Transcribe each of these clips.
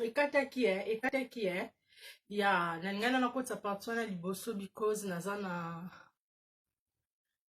ekataki eh, ekataki eh. ya nalingai na nakotisa parti wana liboso because naza na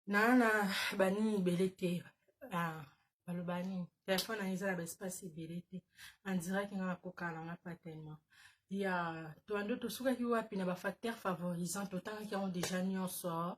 naa na banini ebele te ah, baloba nini telefone na eza na baespace ebele te andiraki nga nakokana na nga pa tellement ya toando tosukaki wapi na bafacteur favorisant totangaki yango deja nyonso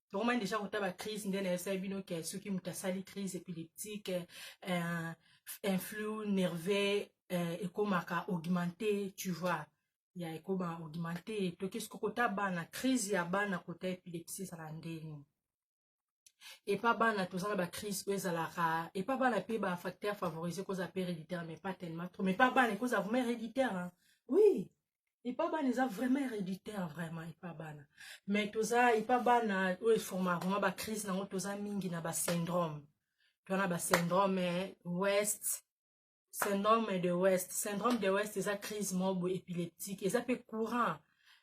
tokomani deja kota bacrise nde nayebisaki bino ke soki moto asali crise épileptique euh, influx nerveux euh, ekomaka augmente tu vois ya ekoma augmente toki soki kota bana crise ya bana kota epilepsie ezala ndenge epa bana toza na bacrise oyo ezalaka epa bana mpe bafacteur favorise kozala mpe héréditaire mais pas tellement trop mais pa bana ekozala vraiment héréditaire hein? oui epa bana eza vraiment héréditaire vraiment epa bana mais toza epa bana oyo eforma vraiment bacrise nango toza mingi na basyndrome toza na basyndrome west syndrome de west syndrome de west eza crise mobo épileptique eza mpe courant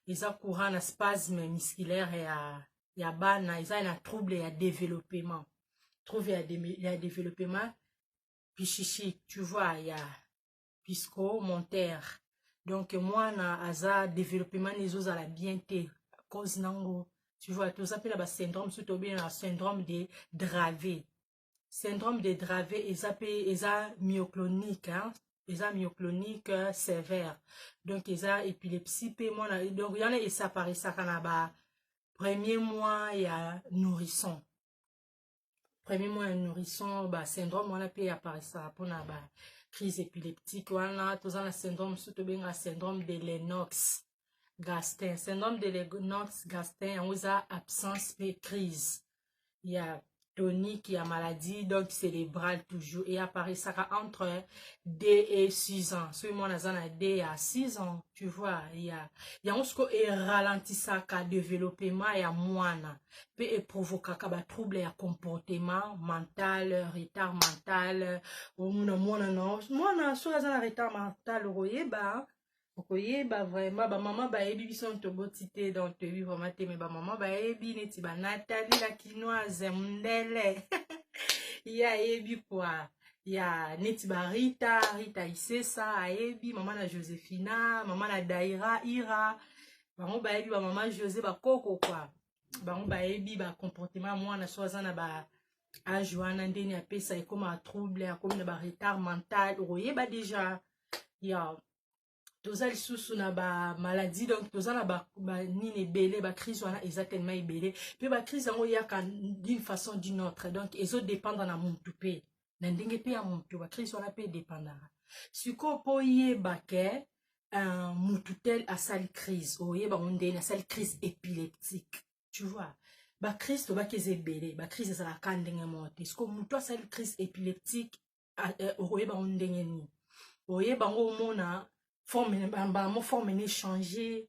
eza courant na spasme musculaire ya, ya bana eza na trouble ya développement trouble ya, de, ya développement pichichi tu vois ya pisco mon terre donc mwana aza développement na ezozala bien te cause nango tu vois toza mpe na basyndrome so tobengana syndrome de drave syndrome de drave eza mpe eza myoclonique hein? eza myoclonique euh, sévère donc eza épilepsie mpe mwana donc yana esaparisaka na ba premier mois ya nourrisson premier mois ya nourrisson ba syndrome wana mpe aparisaka mpona ba crise épileptique wana toza na syndrome mosusu tobengaka syndrome de lenox gastin syndrome de lenox gastin yango eza absence mpe crise ya tonique ya maladie donc cérébrale toujours e aparisaka entre d et 6 ans soki mwana aza na d ya 6 ans tu vois ya yango siko eralentisaka développement ya mwana pe e provokaka ba trouble ya comportement mental retard mental omona mwana na mwana soki aza na retard mental okoyeba okoyeba vraiment bamama bayebi biso na toboti te donc toyebi vraiment te me bamama bayebi neti banatali la kinoise mundele ye ayebi kua ya neti barita rita isesa ayebi mama na josephina mama na daira ira bango bayebi bamama jose bakoko kwa bango bayebi bacomportement ya mwana so aza na ba age wana ndeni apesa ekoma trouble akomi na baretard mental okoyeba deja ya toza lisusu na bamaladie donc toza na banini ba ebele bacrise wana eza telema ebele mpe bacrise yango eyaka d'une façon d'une autre donc ezodépendre na mutu mpe na ndenge mpe ya moto bacrise wana mpe edepandaka sikoyo mpo oyeba ke uh, motu tel asali crise oyeba ngo ndeni asali crise épileptique tu vois bacrise tobaki eza ebele bacrise ezalaka ka ndenge moko te sikoyo motu asali crise épileptique eh, okoyeba ngo ndenge nini oyeba ngo omona forme bango forme na échange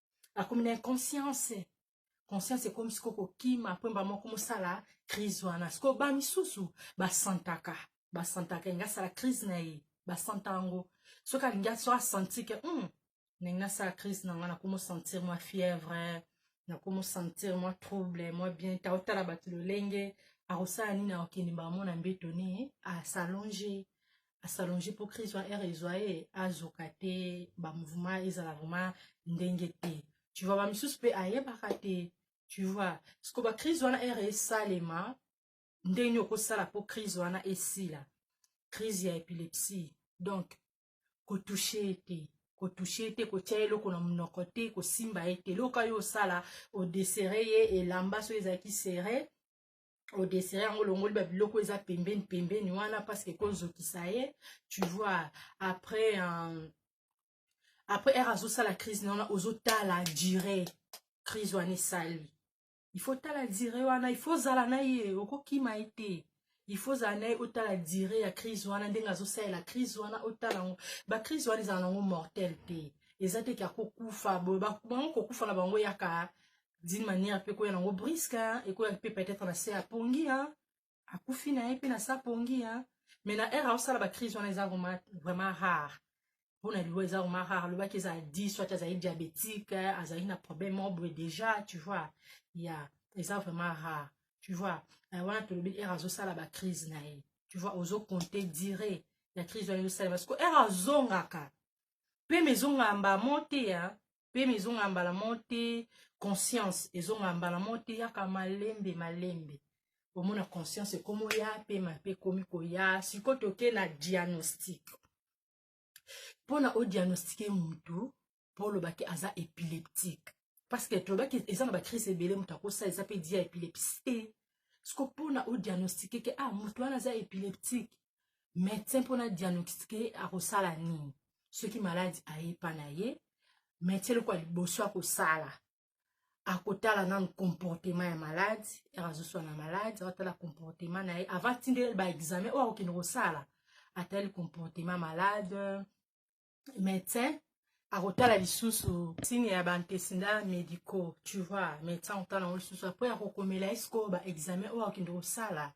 akomi na inconscience conscience ekomi sikoyo kokima mpwemba moko mosala crise wana sikoyo ba misusu basantaka basantaka elingi asala crise na ye basanta yango soki alingi aso asanti ke hmm, ndenge nasala crise na ngai nakomosentir mwa fièvre nakomosentir mwa trouble mwa bien ta otala bato lolenge akosala nini akokende mbala mona mbeto ni asalonge asalonge mpo crise wana ere ezwa ye azoka te bamouvement ezala vraiment ndenge te tu vois bamisusu mpe ayebaka te tu vois siko bacrise wana ere esalema ndenge nini okosala mpo crise wana esila crise ya epilepsie donc kotouche ye te kotouche ye te kotya ye eloko na monoko te kosimba ye te eloko yo osala odesere ye elamba soki ezalaki sere odesere yango olongoli babiloko eza pembeni pembeni wana parceke ekozokisa ye tu vois après euh, après ere azosala crise na wana ozotala dire crise wana esali il faut tala dire wana il faut ozala na ye okokima ye te il faut ozala na ye otala dire ya crise wana ndenge azosalela crise wana otala yango bacrise wana ezala na yango mortel te eza te ke akokufa bango kokufa na bango yaka d'une manière pe koya nango briska hein, ekoya pe peut-être na se apongi hein. akufi na ye pe na se apongi hein. mais na ere aosala bacrise wana eza vraiment rare mpo na liwa eza vraiment rare alobaki eza di soit azali diabétique azali na problème moko boye déjà tu vois ya yeah. eza vraiment rare tu vois euh, wana tolobi ere azosala bacrise na ye tu vois ozo compte dire ya crise wana ezosalema siko ere azongaka mpe mezongaka mbamo te ya pema ezongaka mbala moko te conscience ezongaka mbala moko te yaka malembe malembe omona conscience ekomi oya pema mpe ekomi koya sikoyo toke na diagnostic mpona odiagnostike motu mpo olobaki aza epileptique parce que tolobaki eza na bacrise ebele moto akosa eza mpe dia epilepsie te siko mpona odiagnostike ke ah moto wana aza epileptique medecin mpona diagnostique akosala nini soki maladi ayepa na ye medecin eloko ya liboso akosala akotala nanu comportement ya maladi ere azoswana maladi akotala comportement na ye avant tindele baexamen oyo akokende kosala atali comportement malade médecin akotala lisusu ntini ya baantesinda médicaux tu vois médecin akotala yango lisusu apres akokomela ye sikoyo baexamen oyo akokende kosala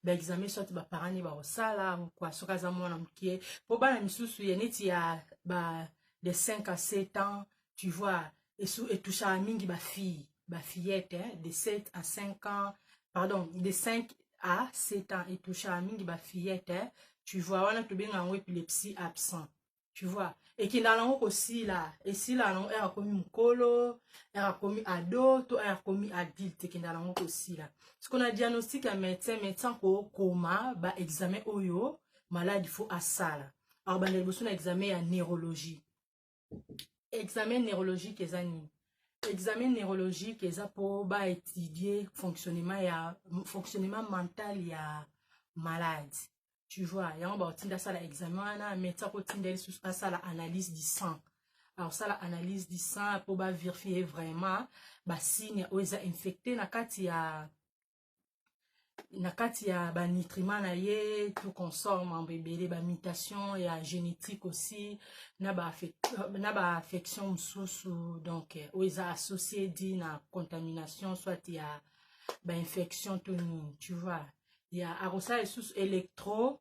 baexamen soit baparent ne bakosala kua soki aza mwana moke mpo bana misusu ya neti ya ba de 5 à 7 ans tu vois etouchaka mingi bafille bafillette hein, de 7 à 5 ans pardon de 5 à 7 ans etouchaka mingi bafillette hein, tu vois wana tobenga yango epilepsie absent tu vois ekendaka nango kosila esila nango ere akomi mokolo ere akomi ado to ere akomi adulte ekendaka nango kosila siko na diagnostic ya médecin médecin kokoma baexamen oyo maladi fo asala akobanda liboso na examen ya neurologie examen neurologique eza nini examen neurologique eza mpo baétudie fonctionnement ya fonctionnement mental ya malade tu vois yango bakotinda asala examen wana meti akotinda lisusu asala analyse du sang akosala analyse du sang mpo baverifie vraiment basigne oyo eza infecte na kati ya na kati ya banitriment na ye tout consort mambo ebele bamitation ya génétique aussi na baaffection mosusu donc euh, oyo eza associe di na contamination soit ya bainfection to nini tu vois ya akosala lisusu électro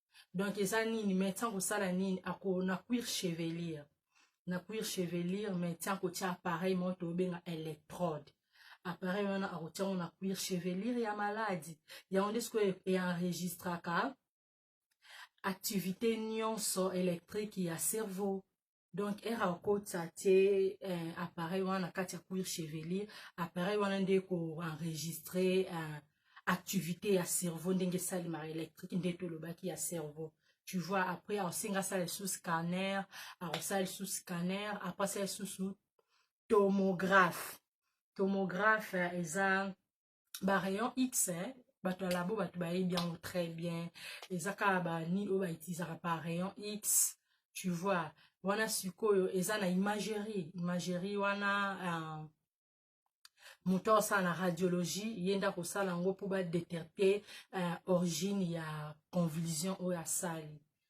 donc eza nini mais ntango osala nini ako na cuir chevelire na cuir chevelire mais ntango kotia appareil moko tobenga electrode appareil wana akotia yango na cuir chevelire ya maladi yango nde sikoyo eenregistraka activité nyonso électrique ya cerveau donc ere akotisa tie eh, appareil wana na kati ya cuir chevelier appareil wana nde koenregistre eh, activité ya cerveau ndenge esalemaka électrique nde tolobaki ya cerveau tu vois après akosenga asala lisusu scanner akosala lisusu scanner après asala lisusu tomographe tomographe eh, eza ba rayon x eh, bato ya labo bato bayebi yango très bien eza kaka banini oyo bautilisaka par rayon x tu vois wana sikoyo eza na imagerie imagerie wana uh, moto aosala na radiologie ye nde akosala yango mpo badeterte uh, origine ya convulsion oyo asali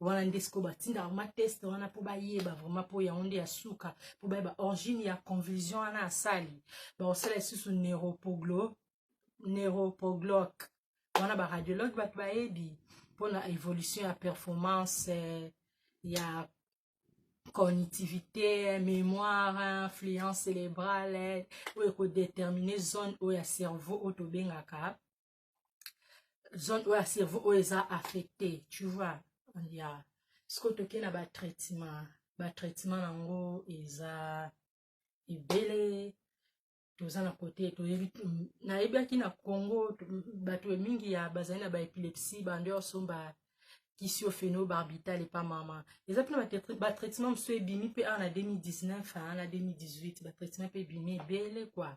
wana nde sikoyo batindaka ma teste wana mpo bayeba vraiment mpo yango nde ya suka mpo bayeba origine ya convulsion wana asali bakosala lisusu neuropoglo neuropogloc wana baradiologue bato bayebi mpo na évolution ya performance eh, ya cognitivité mémoire influence cérébrale oyo ekodetermine zone oyo ya cerveau oyo tobengaka zone oyo ya cerveau oyo eza affecté tu vois ya sikoyo toke na batraitement batraitement yango eza ebele toza na kote toyebi nayebaki na congo bato mingi ya bazali na baepilepsie bando ya osomba kisi oyo phenobarbital epa mama eza mpena batraitement mosusu ebimi mpe awa na 2019 na 2018 batraitement mpe ebimi ebele kua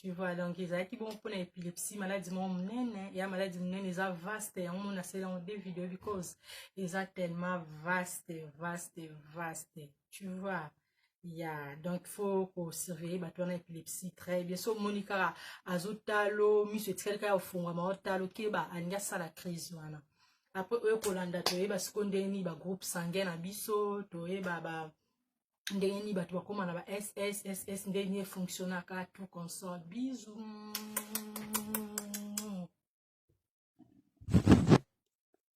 tu vois donc ezalaki bongo mpona epilepsie maladi moko monene ya maladi monene eza vaste yango mona asala yango de video because eza tellement vaste vaste vaste tu vois ya donc fo kosurveille bato wana epilepsie très bien so omoni kaka azotalo miso etikali kaka ofungwama otalo keba alingi asala crise wana apres oyo kolanda toyeba siko ndeni bagroupe sanguin na biso toyeba ba, ba ndenge nini bato bakoma na ba sss ndenge nini efonctionnaka tout console bisu